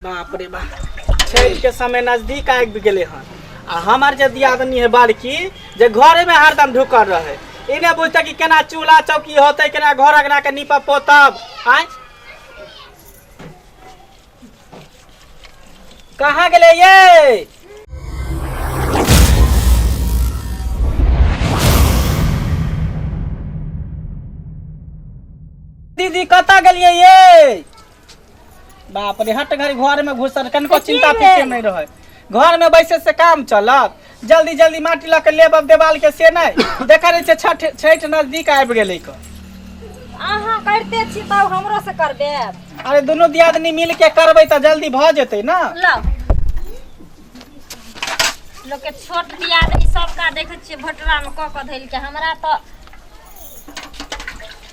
बाप रे बाप छठि के समय नजदीक आबि गेले हन आ हमार जे दियादनी है बड़की जे घरे में हरदम ढुकल रहे ई ने बुझते कि केना चूल्हा चौकी होते केना घर अगना के नीपा पोतब आय कहाँ गेले ये दीदी कतऽ गेलियै ये बाप रे हट घड़ी घर में घुसल कनको कथी चिंता रे? फिक्र नहीं रहे घर में बैसे से काम चलत जल्दी जल्दी माटी लऽ के लेब अब देवाल के से नहीं देखा रहे छै छठ छठ नजदीक आबि गेलै क अहाँ करते छी तब हमरो से करबे अरे दुनू दियादनी मिल के करबै तऽ जल्दी भऽ जेतै ना लो लोग के छोट दियादनी सबका देखे छियै भोटरा में कऽ कऽ धैल के हमरा तऽ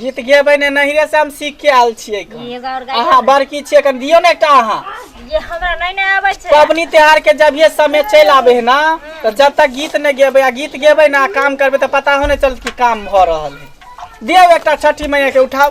गीत गेबै ने नहिरे से हम सीख के आयल छियै एखन। एगो और गाय अहाँ बड़की छियै एखन दियौ ने एकटा अहाँ ये हमरा नहीं ना आवे छे पबनी त्योहार के जब ये समय चलि आबे है ना तो जब तक गीत नहीं गेबै आ गीत गेबै ना काम करबै तो पता हो नहीं चलत कि काम भऽ रहल है दियौ एकटा छठी मैया के उठाउ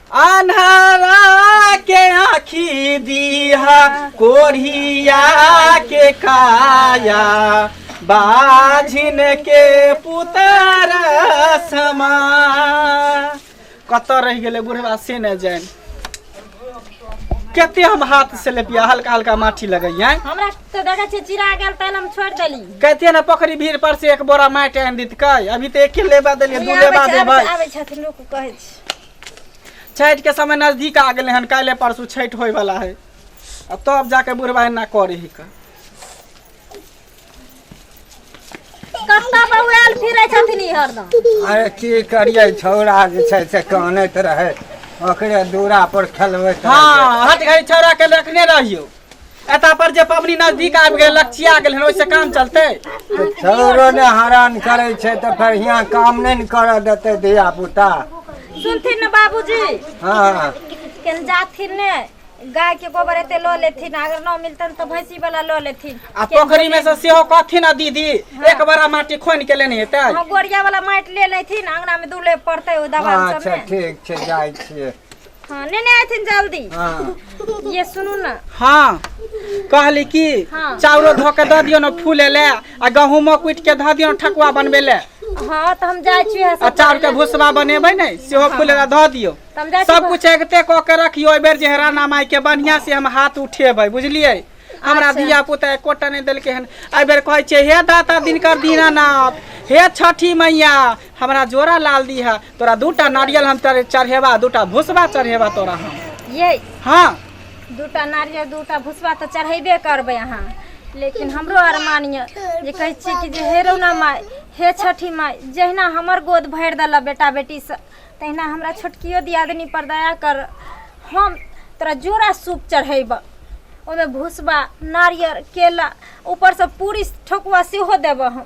अन्हारा के आँखी दीहा कोढ़िया के काया बाझिन के पुतर समा कतऽ रहि गेलै बुढ़वा से नहि जाइन कते हम हाथ से लेपिया हल्का हल्का माटी लगैया हमरा तो देखै छियै चिरा गेल तैं हम छोड़ि देली कहते ने पोखरी भीड़ पर से एक बोरा माटि आनि दितकै अभी तऽ एके लेबा देलियै दू लेबा देबै आबै छथिन लोक कहै छी छठि के समय नजदीक आ गेलै हन काल्हि परसू छठि होय वाला है आ तब जाके बुढ़वा एना करे ही का कतऽ बौआल फिरै छथिन ई हरदम अरे की करिए छौड़ा जे छै से कानैत रहै ओकरे दूरा पर खेलबैत रहै हाँ हट घड़ी छौड़ा के रखने रहियो एता पर जे पबनी नजदीक आबि गेल लक्ष्या गेल हन ओइसे काम चलते छौरो ने हरान करै छै तऽ फेर हियाँ काम नहि ने करऽ देतै धिया पुता सुनथिन ने बाबूजी हँ केन जाथिन ने गाय के गोबर एते लऽ लेथिन अगर न मिलतन तऽ भैंसी वाला लऽ लेथिन आ पोखरी में से सेहो कहथिन आ दीदी एक बड़ा माटी खोनि के लेने हेतै हाँ, गोरिया वाला माटि ले लेथिन अंगना में दूले पड़ते ओ दबान सब अच्छा में ठीक छै जाइ छियै खाने नहीं आए थे जल्दी हाँ ये सुनू ना हाँ कहली कि हाँ। चाउरो धो के दऽ दियौ ने फूले ले आ गहूमो कुटि के धऽ दियौ ने ठकुआ बनबे ले हाँ तो हम जाए छी आ चाउर के भुसबा बनेबै ने सेहो फूले ले धऽ दियौ तो हम जाए छी सब कुछ एकते कऽ के रखियो एहि बेर जे है राणा माई के बढ़िया से हम हाथ उठेबै बुझलियै हमरा अच्छा। धिया पुता एकोटा नहि देलकै हन एहि बेर कहै छै हे दाता दिनकर दीनानाथ हे छठी मैया हमरा जोड़ा लाल दी है तोरा दूटा नारियल हम चढ़ेबा दूटा भूसबा चढ़ेबा तोरा हम ये हाँ दूटा नारियल दूटा भूसबा तो चढ़ेबे करबे अहाँ लेकिन हमरो अरमान ये जे कहै छी कि जे हे रौना माय हे छठी माय जहिना हमर गोद भरि देलऽ बेटा बेटी से तहिना हमरा छोटकियो दियादनी पर दया कर हम तोरा जोड़ा सूप चढ़ेब ओहिमे भूसबा नारियल केला ऊपरसँ पूरी ठकुआ सेहो देबऽ हम